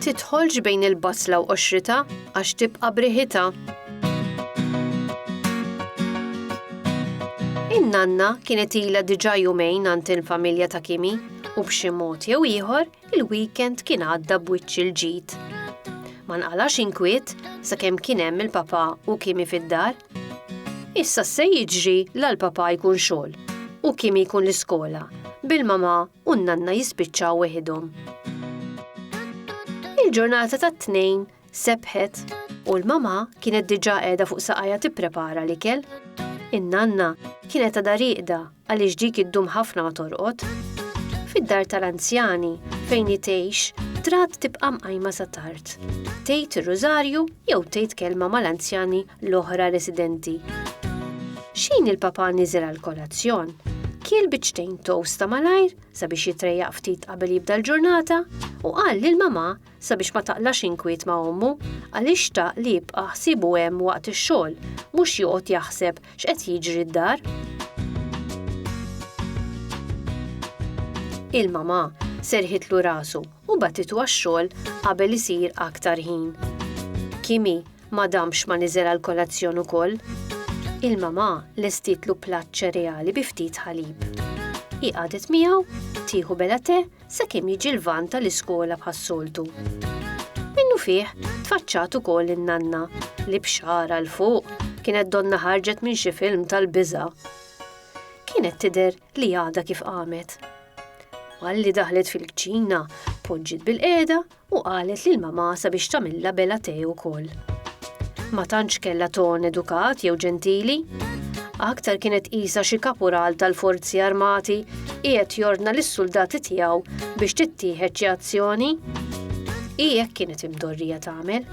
tidħolx bejn il-basla u qoxrita għax tibqa' briħita. In-nanna kienet ilha diġà jumejn għand il-familja ta' Kimi u b'xi mod jew ieħor Il-weekend kien għadda b'wiċċ il-ġid. Ma nqalax inkwiet sakemm kien hemm il-papa u kimi fid-dar. Issa se jiġri la l-papa jkun xogħol u kimi jkun l-iskola bil-mama u n-nanna jispiċċaw weħidhom. Il-ġurnata tat-tnejn Sebħet, u l-mama kienet diġà qiegħda fuq saqajha tipprepara l-ikel. In-nanna kienet għadha rieqda għaliex dik iddum ħafna ma torqod. Fid-dar tal-anzjani fejn hi tgħix, trat tibqa' mqajma sa tard. Tgħid ir-rużarju jew tgħid kelma mal-anzjani l-oħra residenti. X'ħin il-papa niżel għall-kolazzjon, kiel biċċtejn toast ta' malajr sabiex jitrejjaq ftit qabel jibda l-ġurnata u qal lil mama sabiex ma taqlax inkwiet ma' ommu għaliex xtaq li jibqa' ħsiebu hemm waqt ix-xogħol mhux joqgħod jaħseb x'qed jiġri d-dar. Il-mamà serrħitlu rasu u bagħtitu għax-xogħol qabel isir aktar ħin. Kimi ma damx ma niżel għall-kolazzjon ukoll. Il-mamà lestitlu platt ċereali bi ftit ħalib. Hi qagħdet miegħu, tieħu bela te sakemm jiġi l-van tal-iskola bħas-soltu. Minnufih tfaċċat ukoll in-nanna li b'xara l fuq kienet donna ħarġet minn xi film tal-biża. Kienet tidher li għada kif qamet. Malli daħlet fil-kċina, poġġiet bil-qeda u qalet lil mamà sabiex tagħmilha bela tè ukoll. Ma tantx kellha ton edukat jew ġentili. Aktar kienet qisha xi kapural tal-forzi armati qiegħed jordna lis-suldati tiegħu biex tittieħed xi azzjoni. Hi hekk kienet imdorrija tagħmel.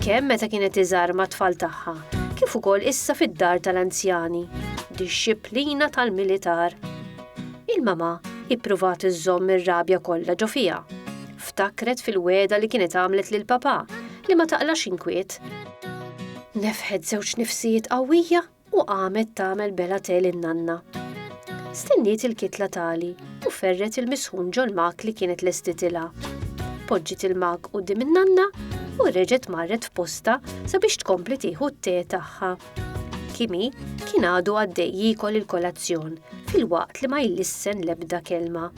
Kemm meta kienet iżgħar mat-tfal tagħha, kif ukoll issa fid-dar tal-anzjani. Dixxiplina tal-militar. Il-mamà ippruvat iżżomm ir-rabja kollha ġo fiha Ftakret fil-wegħda li kienet għamlet lill-Papà li ma taqlax inkwiet. Nefħet żewġ nifsijiet qawwija u qamet tagħmel bela te lin-nanna. Stenniet il-kitla tali u ferret il-misħun ġol-mak li kienet lestitilha. Poġġiet il-mak quddiem in-nanna u reġgħet marret f'postha sabiex tkompli tieħu t-te tagħha. Kimi kien għadu għaddej jikol il-kolazzjon fil-waqt li ma jlissen lebda kelma.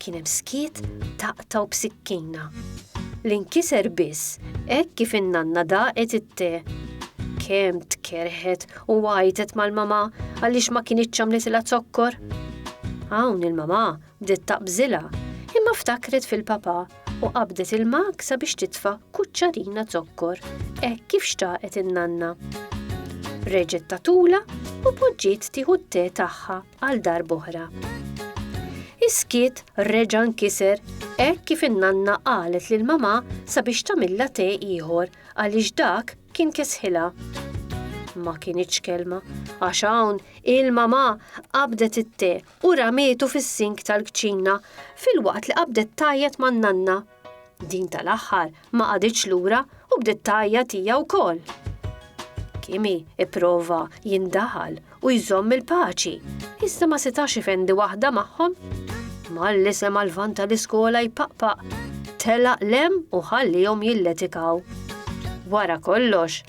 Kien hemm skiet taqtaw b'sikkina. L-inkiser biss hekk kif in-nanna daqet it-te. Kemm tkerħet u għajtet mal-mama għaliex ma kienitx għamlitilha zokkor. Hawn il-mama bdiet taqbżilha imma ftakret fil-papa u qabdet il-mak sabiex titfa' kuċċarina zokkor, hekk kif xtaqet in-nanna. Reġgħet tatula u poġġiet tieħu t-te tagħha għal dar boħra. Iskiet reġa' nkiser hekk kif in-nanna qalet lil mamà sabiex tagħmilha te ieħor għaliex dak kien kesħilha. Ma kienitx kelma, għax hawn il-mamà qabdet it-te u ramietu fis-sink tal-kċina filwaqt li qabdet tgħajjat man-nanna. Din tal-aħħar ma qaditx lura u bdiet tgħajjat hija wkoll. Kimi ipprova jindaħal u jżomm il-paċi, iżda ma setax ifendi waħda magħhom. Malli sema l-van tal-iskola jpaqpaq, telaq lem u ħallihom jilletikaw. Wara kollox,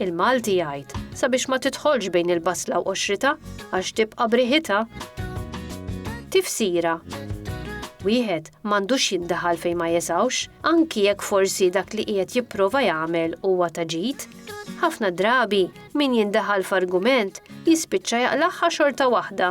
il-Malti jgħid sabiex ma tidħolx bejn il-basla u qoxrita, għax tibqa' b'riħitha. Tifsira, Wieħed m'għandux jiddaħal fejn ma jesgħux, anki jekk forsi dak li qiegħed jipprova jagħmel huwa ta' ġid. Ħafna drabi min jindaħal f'argument jispiċċa jaqlagħha xorta waħda.